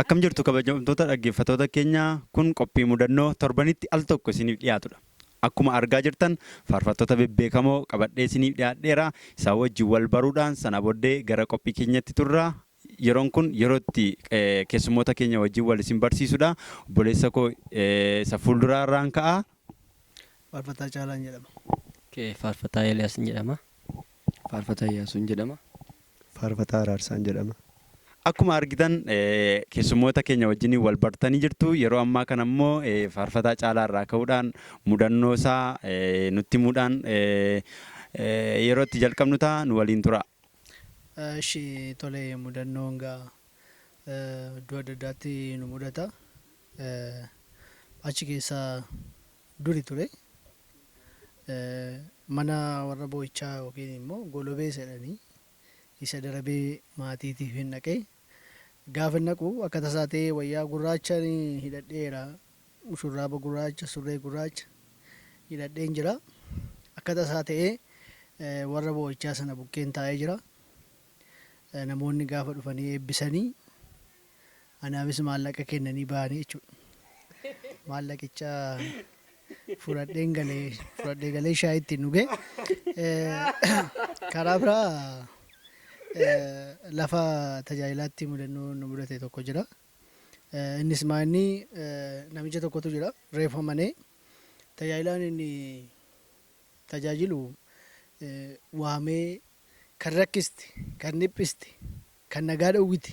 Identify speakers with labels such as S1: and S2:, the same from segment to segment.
S1: Akkam jirtu kabajamtoota dhaggeeffatoota keenya kun qophii mudannoo torbanitti al tokko isiniif dhiyaatudha. Akkuma argaa jirtan faarfattoota bebbeekamoo qabadhee isiniif dhiyaadheera. Isaa wajjin wal baruudhaan sana booddee gara qophii keenyatti turra. Yeroon kun yeroo itti keessummoota keenya wajjin wal isin barsiisudha. Obboleessa koo isa fuulduraa irraan ka'a. Faarfataa
S2: Caalaan jedhama. Faarfataa
S3: Eeliyaas jedhama. Faarfataa
S4: Iyyaasuun jedhama. Faarfataa
S5: Araarsaan jedhama. Akkuma argitan
S1: keessummoota keenya wajjiniin wal bartanii jirtu. Yeroo ammaa kana immoo Faarfataa Caalaa irraa ka'uudhaan mudannoo isaa nutti himuudhaan yeroo itti jalqabnu ta'a. Nu waliin turaa. Eshi
S2: tole mudannoon gaa iddoo adda addaatti nu mudata. Achi keessaa duri ture mana warra boo'ichaa yookiin immoo golobee isa jedhanii isa darabee maatiitiifin dhaqe. Gaafan dhaqu akka tasaa ta'ee wayyaa gurraachan hidhadheera. Shurraaba gurraacha, surree gurraacha hidhadheen jira. Akka tasaa ta'ee warra boo'ichaa sana bukkeen taa'ee jira. Namoonni gaafa dhufanii eebbisanii Anaafis maallaqa kennanii bahanii jechuudha. Maallaqicha fudhadheen galee fudhadhee galee shaayii ittiin dhuge. Karaa biraa lafa tajaajilaatti mudannoo nu mudate tokko jira. Innis maa inni namicha tokkotu jira reefu amanee tajaajilaan inni tajaajilu waamee kan rakkiste kan dhiphiste kan nagaa dhowwite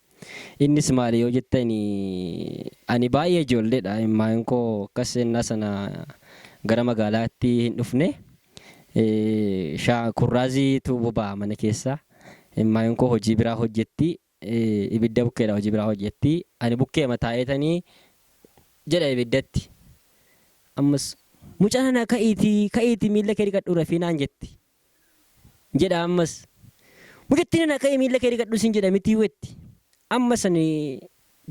S3: Innis maali yoo jettani ani baay'ee ijoolleedha imimmaan koo akkas ennaa sana gara magaalaatti hin dhufne kurraaziitu boba'a mana keessa imimmaan koo hojii biraa hojjetti ibidda bukkeedha hojii biraa hojjetti ani bukkeema taa'eetanii jedha ibiddatti ammas muca nana ka'iitii ka'iitii miilla kee dhiqadhuu rafii naan jetti jedha ammas mucattiin ana ka'ii miilla kee dhiqadhu siin jedha mitii wetti ammas ani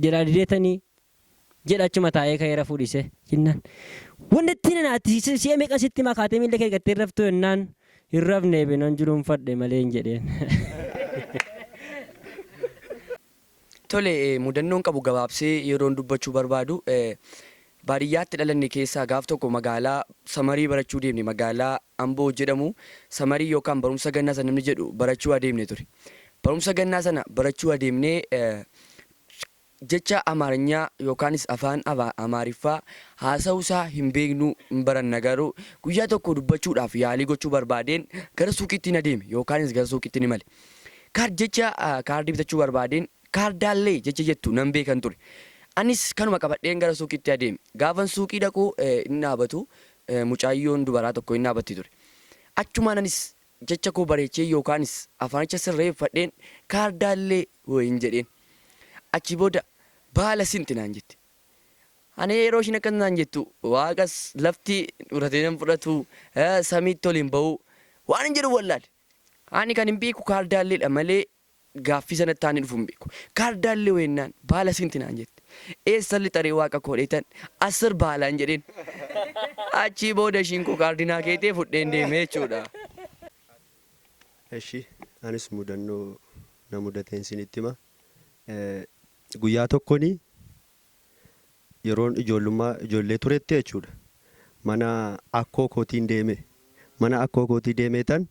S3: jalaa dideetanii jedha achuma taa'ee ka'ee rafuu dhiise jennaan wannattiin ana ati si'a meeqan sitti himaa kaatee miilla kee dhiqattee hin raftuu jennaan hin rafneefi nan julunfadhe maleen jedheen.
S4: Tole, mudannoon qabu gabaabsee yeroon dubbachuu barbaadu, baadiyyaatti dhalanne keessaa gaaf tokko magaalaa Samarii barachuu deemne, magaalaa Amboo jedhamu Samarii yookaan Barumsa Gannaa isa namni jedhu barachuu adeemne ture. Barumsa Gannaa sana barachuu adeemnee jecha Amaarinyaa yookaanis afaan Amaariffaa haasa'uu isaa hin beeknu, hin baranna garuu guyyaa tokko dubbachuudhaaf yaalii gochuu barbaadeen gara suuqiittiin adeeme yookaanis gara suuqiittiin imale. Card jecha kaardii bitachuu barbaadeen kaardaallee jecha jettu nan beekan ture. Anis kanuma qabadheen gara suuqiitti adeeme. Gaafan suuqii dhaqu hin dhaabatu mucaayyoon dubaraa tokko hin dhaabatti ture. Achumaan anis jecha koo bareechee yookaanis afaanicha sirreeffadheen kaardaallee wayiin jedheen. Achii booda baala sinti naan jette. Ani yeroo ishiin akkas naan jettu waaqas lafti fudhatee nan fudhatu samiitti ol hin ba'u waanin jedhu wallaale. Ani kanin beeku kaardaalleedha malee gaaffii sanatti aanee dhufu hin beeku. Kaardaallee hoo ennaan baala siinti naan jette. Eessan lixa ree waaqa koo dheetan assir baalaan jedheen. Achii booda ishiin koo kaardii naa keetee fudheen deeme jechuudha.
S5: Eshi anis mudannoo na mudateen siinitti hima. Guyyaa tokkoni Yeroon ijoollummaa ijoollee turetti jechuudha mana akkoo kootiin deeme. Mana akkoo kootii deemeetan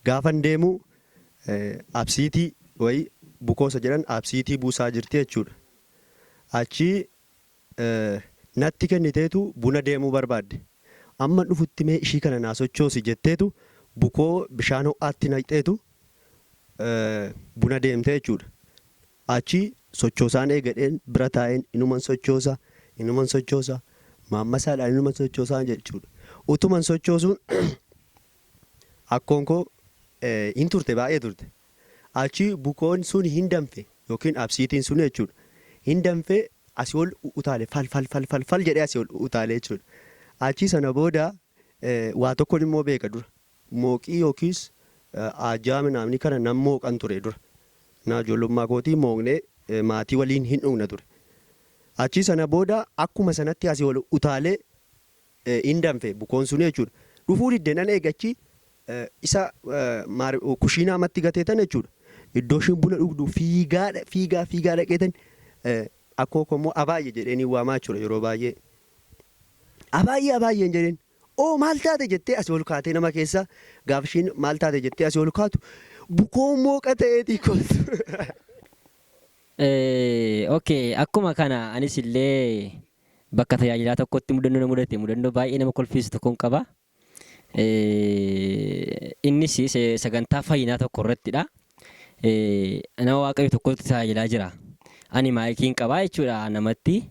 S5: gaafan deemu absiitii wayii bukoo isa jedhan absiitii buusaa jirti jechuudha. Achii natti kenniteetu buna deemuu barbaadde. Amman dhufutti mee ishii kana naa sochoosi jetteetu bukoo bishaan ho'aatti naqxeetu buna deemte jechuudha. Achi sochoosaan eegadheen bira taa'een inuman sochoosa, inuman sochoosa, maammasaadhaan inuman sochoosa jechuudha. Utuman sochoosuun akkoon koo hin turte baay'ee turte. Achi bukoon sun hin danfe yookiin absiitiin sun jechuudha. Hin danfe asii ol utaale fal fal fal fal fal jedhee asii ol utaale jechuudha. Achi sana booda waa tokkon immoo beeka dura. Mooqii yookiis aajjaa minaamnii kana nan mooqan ture dura. Naa ijoollummaa kootii mooqnee maatii waliin hin dhugna ture. Achii sana booda akkuma sanatti asii ol utaalee hin danfe bukoon suni jechuudha. Dhufuu didde nan eege achii isa kushiinaa matti gatee tana jechuudha. Iddoo isheen buna dhugdu fiigaa fiigaa fiigaa dhaqeetan akkoo koo immoo abaayye jedheen hin waamaa jechuudha yeroo baay'ee. Abaayye abaayye hin jedheen. Oo maal taate jettee asii ol kaatee nama keessa gaafa ishiin maal taate jettee asii ol kaatu bukoon mooqa ta'eetii kolfa.
S3: Ok akkuma kana anis illee bakka tajaajilaa tokkotti mudannoo na mudate mudannoo baay'ee nama kolfiisu tokkon qaba. Innis sagantaa fayyinaa tokko irrattidha. eh, nama waaqayyo tokkotti tajaajilaa jira. Ani maayikiin qabaa jechuudha namatti.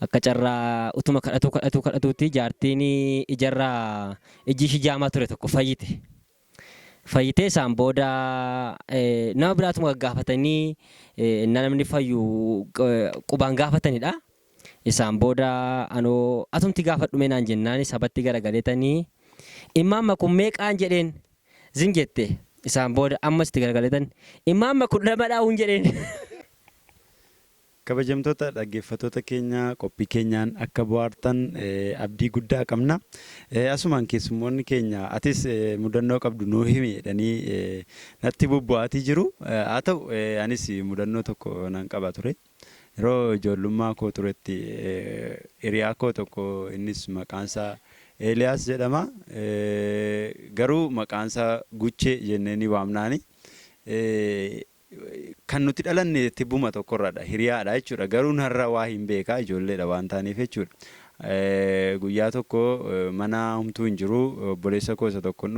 S3: Akka carraa utuma kadhatuu kadhatuu kadhatuutti jaartiin ijarraa ijji ishii jaamaa ture tokko fayyite. Fayyitee isaan booda eh, nama biraatuma gaggaafatanii eh, innaa namni fayyu eh, qubaan gaafatanidha. Isaan booda anoo atumti gaafadhumee naan jennaani sabatti garagaletani immaan makun meeqaan jedheen zim jette isaan booda ammas itti garagaletani immaan makun lamadhaa uun jedheen.
S1: Kabajamtoota dhaggeeffatoota keenya qophii keenyaan akka bohaartan abdii guddaa qabna. Asumaan keessummoonni keenya atis mudannoo qabdu nuu himi jedhanii natti bubbu'aatii jiru. Haa ta'u anis mudannoo tokko nan qaba ture. Yeroo ijoollummaa koo turetti hiriyaa koo tokko innis maqaan isaa Eeliyaas jedhama. Garuu maqaan isaa Guchee jennee ni waamnaani. Kan nuti dhalanne tibbuma tokkorradha. Hiriyaadha jechuudha. Garuu narra waa hin beeka ijoolleedha waan taaneef jechuudha. Guyyaa tokko mana humtuu hin jiru obboleessa koo isa tokkon